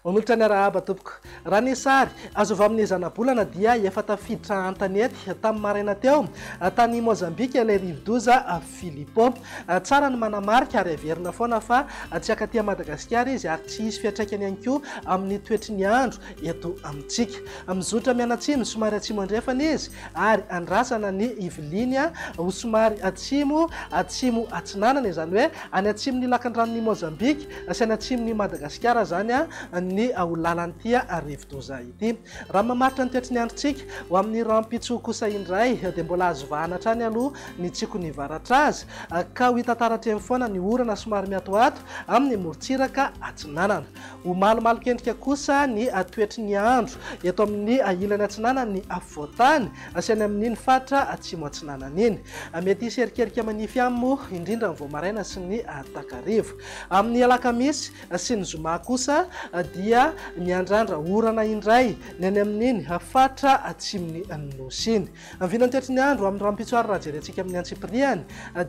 Onolotra niarahaba tompoko. Raha ny sary azo avy amin'ny zanabolana dia efa tafiditra an-tanety tamin'ny maraina teo tany Mozambika ilay rivodoza Filippo. Tsara ny manamarika ary averina foana fa tsy hankaty Madagasikara izy ary tsy hisy fiantraikany ihany koa amin'ny toetry ny andro eto amintsika. Mizotra mianatsimo somary atsimo andrefana izy ary andrasana ny hiviliany ho somary atsimo atsimo atsinanana, izany hoe any atsimon'ny lakandranon'i Mozambika sy any atsimon'i Madagasikara izany ny ho lalan'ity rivodoza ity. Raha ny mamaritra ny toetry ny androntsika, ho amin'ny rahampitso kosa indray dia mbola azo vahana hatrany aloha ny tsiky ny varatra azy, ka ho hita taratra eny foana ny orana somary miatoato amin'ny morontsiraka atsinanana. Ho malomalokendrika kosa ny toetry ny andro eto amin'ny ilany atsinanan'ny afovoan-tany sy any amin'iny faritra atsimo-atsinanana iny. Mety hisy erikerika manify ihany moa indrindra ny vao maraina sy ny takariva amin'ny alakamisy. sy ny zoma kosa dia miandrandra orana indray ny any amin'iny faritra atsimon'ny Nosy iny. Ny vinantetry ny andro amin'ny rahampitso ary raha jerentsika amin'ny antsipiriany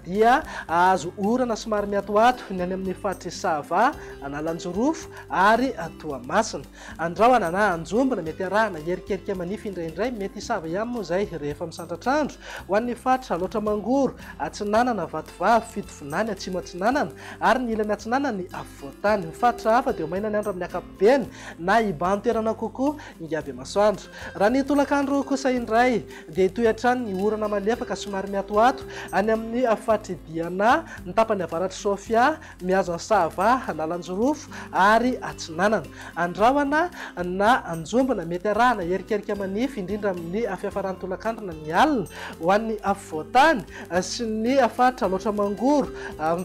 dia hahazo orana somary miatoato ny any amin'ny faritr'i Sava, Analanjirofo ary Toamasina. Andrahona na anjombona, mety arahana erikerika manify indraindray, mety hisava ihany moa izay rehefa misandratr'andro, ho an'ny faritra Alaotra Mangoro, Atsinanana, Vatovavy, Tsinanana, Atsimo Atsinanana ary ny ilany atsinanana ny Afovoantany. Ny faritra hafa dia maina ny andro amin'ny ankapobeny na hibahan-toerana kokoa Ingabemasoandro. Raha ny tolakandro kosa indray dia hitohy hatrany ny orana malefaka somary miatoato any amin'ny faritr'i Diana, ny tapany avaratr'i Sofia, mihazo an'i Sava, Analanjirofo ary Atsinanana. Andrahona na anjombona, mety arahana erikerika manify, indrindra amin'ny fiafaran'ny tolakandro na ny alina, ho an'ny afovoan-tany sy ny faritra loatra mangoro,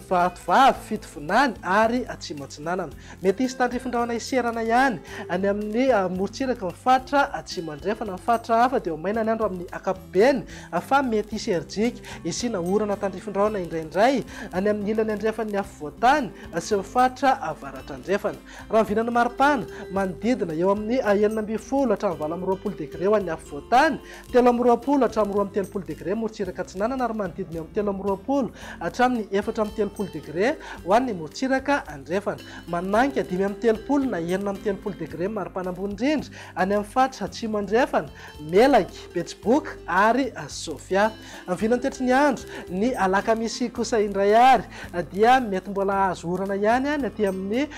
Vatovavy, Fitovinany ary Atsimo Atsinanana. Mety hisy tandrifin-drahona hiserana ihany any amin'ny morontsirak'i ny faritra Atsimo Andrefana. Ny faritra hafa dia ho maina ny andro amin'ny ankapobeny fa mety hisy herijika hisiana orana tandrifin-drahona indraindray any amin'ny ilany andrefan'ny afovoan-tany sy ny faritra Avaratra Andrefana. Raha ny vinan'ny maripana, manodidina eo amin'ny enina ambin'ny folo hatramin'ny valo amby roapolo degre ho an'ny afovoan-tany, telo amby roapolo hatramin'ny roa amby telopolo degre morotsiraka atsinanana ary manodidina eo amin'ny telo amby roapolo hatramin'ny efatra amby telopolo degre ho an'ny morotsiraka andrefana. Manonanka dimy amby telopolo na enina amby telopolo degre ny maripana ambony indrindra any amin'ny faritra atsimo andrefana, Melaky, Betsiboka ary Sofia. Vinany tetry ny andro. Ny alakamisy kosa indray ary dia mety mbola hahazo orana ihany ny aty amin'ny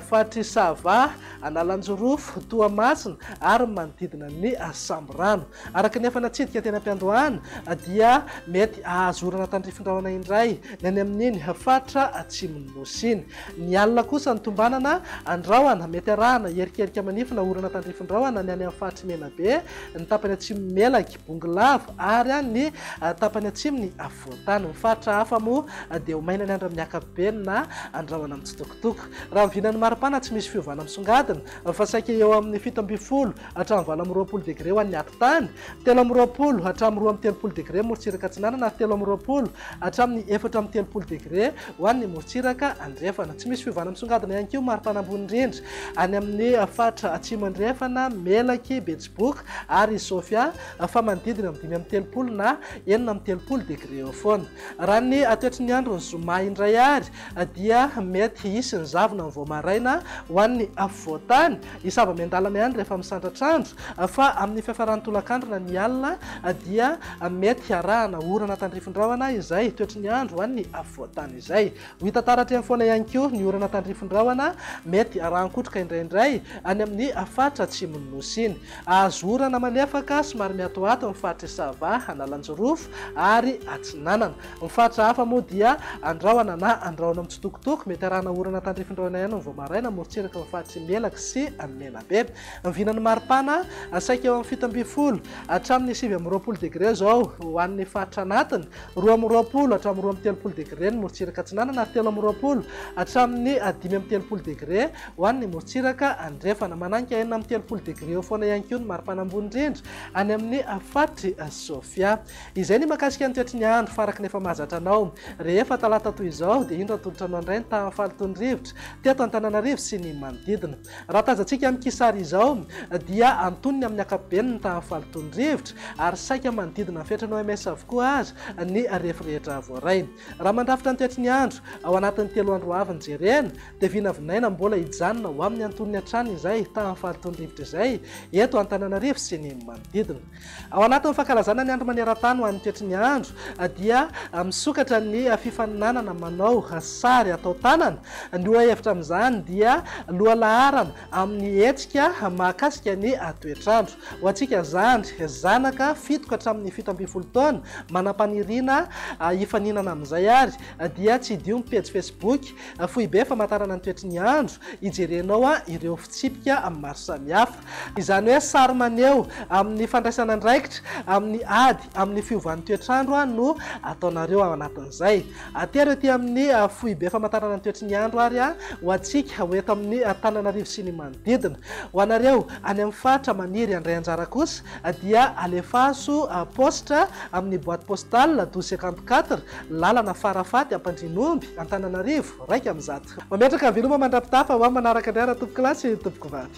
faritr'i Sava, Analanjirofo, Toamasina ary ny manodidina ny Sambirano. Araka ny efa natsidika teny am-piandohana dia mety hahazo orana tandrify rahona indray ny any amin'iny faritra atsimon'ny Nosy iny. Ny alina kosa no tombanana an-drahona. Mety arahana erikerika manify na orana tandrify rahona ny any amin'ny faritr'i Menabe, ny tapany atsimon'i Melaky. Bongolava ary any ny tapany atsimo ny afovoan-tany. Ny faritra hafa moa dia ho maina ny andro amin'ny ankapobeny na andrahona mitsitokotoko. Raha ny vinan'ny maripana tsy misy fiovana misongadina fa saika eo amin'ny fito ambin'ny folo hatramin'ny valo amby roapolo degre ho an'ny atitany, telo amby roapolo hatramin'ny roa amby telopolo degre morontsiraka atsinanana ary telo amby roapolo hatramin'ny efatra amby telopolo degre ho an'ny morontsiraka andrefana. Tsy misy fiovana misongadina ihany koa ny maripana ambony indrindra any amin'ny faritra atsimo andrefana, Melaky, Betsiboka, book ary i Sofia fa manodidina amin'ny dimy amby telopolo na enina amby telopolo degré eo foana. Raha ny toetry ny andron'ny zoma indray ary dia mety hisy ny zavona ny vao maraina ho an'ny afovoan-tany, hisy zava-miandalana ihany rehefa misandratra andro fa amin'ny fiafaran'ny tolakandro na ny alina dia mety hiarahana orana tandrifin-drahona izay toetry ny andro ho an'ny afovoan-tany izay. Ho hita taratry foana ihany koa ny orana tandrifin-drahona mety arahan-kotroka indraindray any amin'ny faritra atsimon'ny Nosy iny. Hahazo orana malefaka somary miatoato ny faritr'i Sava, Analanjirofo ary Atsinanana. Ny faritra hafa moa dia andrahona na andrahona mitsitokotoko. Mety arahana orana tandrifin-drahona ihany ny Voamarina, amorontsiraky ny faritr'i Melaky sy Menabe. Ny vinan'ny maripana, saika eo amin'ny fito ambin'ny folo hatramin'ny sivy amby roapolo degre izao ho an'ny faritra anatiny. roa amby roapolo hatramin'ny roa amby telopolo degre ny morontsiraka atsinanana ary telo amby roapolo hatramin'ny dimy amby telopolo degre ho an'ny morontsiraka andrefana. Mananika enina amby telopolo degre eo foana ihany koa ny maripana ambony indrindra any amin'ny faritry Sofia. Izay ny makasika ny toetry ny andro faraky ny efa mahazatra anao. Rehefa talata toy izao dia indro atolotra anao indray ny tahan'ny fahalotoan'ny rivotra teto Antananarivo sy ny manodidina. Raha tazantsika amin'ity sary izao dia antonony amin'ny ankapobeny ny tahan'ny fahalotoan'ny rivotra ary saika manodidina ny fetran'ny OMS avokoa aza ny refy rehetra voaray. Raha mandrafitra ny toetry ny andro ao anatin'ny telo andro ho avy ny jerena dia vinavinaina mbola hijanona ho amin'ny antonony hatrany izay tahan'ny fahalotoan'ny rivotra izay eto Antananarivo sy ny manodidina. Ao anatin'ny fankalazana ny Andro maneran-tany ho an'ny toetry ny andro dia misokatra ny fifaninanana manao sary atao tanana. Ny lohahevitra amin'izany dia lohalaharana amin'ny hetsika mahakasika ny toetr'andro. Ho antsika zandry, zanaka fito ka hatramin'ny fito ambin'ny folo taona manam-paniriana hifaninana amin'izay ary dia tsidiho ny pejy Facebook Foibe Famantarana ny Toetry ny Andro hijerenao ireo fitsipika maro samihafa. Izany hoe sary maneho amin'ny fandraisana andraikitra amin'ny ady amin'ny fiovan'ny toetr'andro no ataonareo ao anatin'izay. Atero ety amin'ny Foibe Famantarana ny Toetry ny Andro ary ho antsika ho eto amin'ny Tananarivo sy ny manodidina. Ho anareo any amin'ny faritra maniry handray anjara kosa dia alefaso post amin'ny boite postale 1254 lalana Farafaty Ampandrianomby Antananarivo iraika amby zato. Mametraka veloma mandra-pitafa ho amin'ny manaraka indray raha tompokolahy sy tompokovady.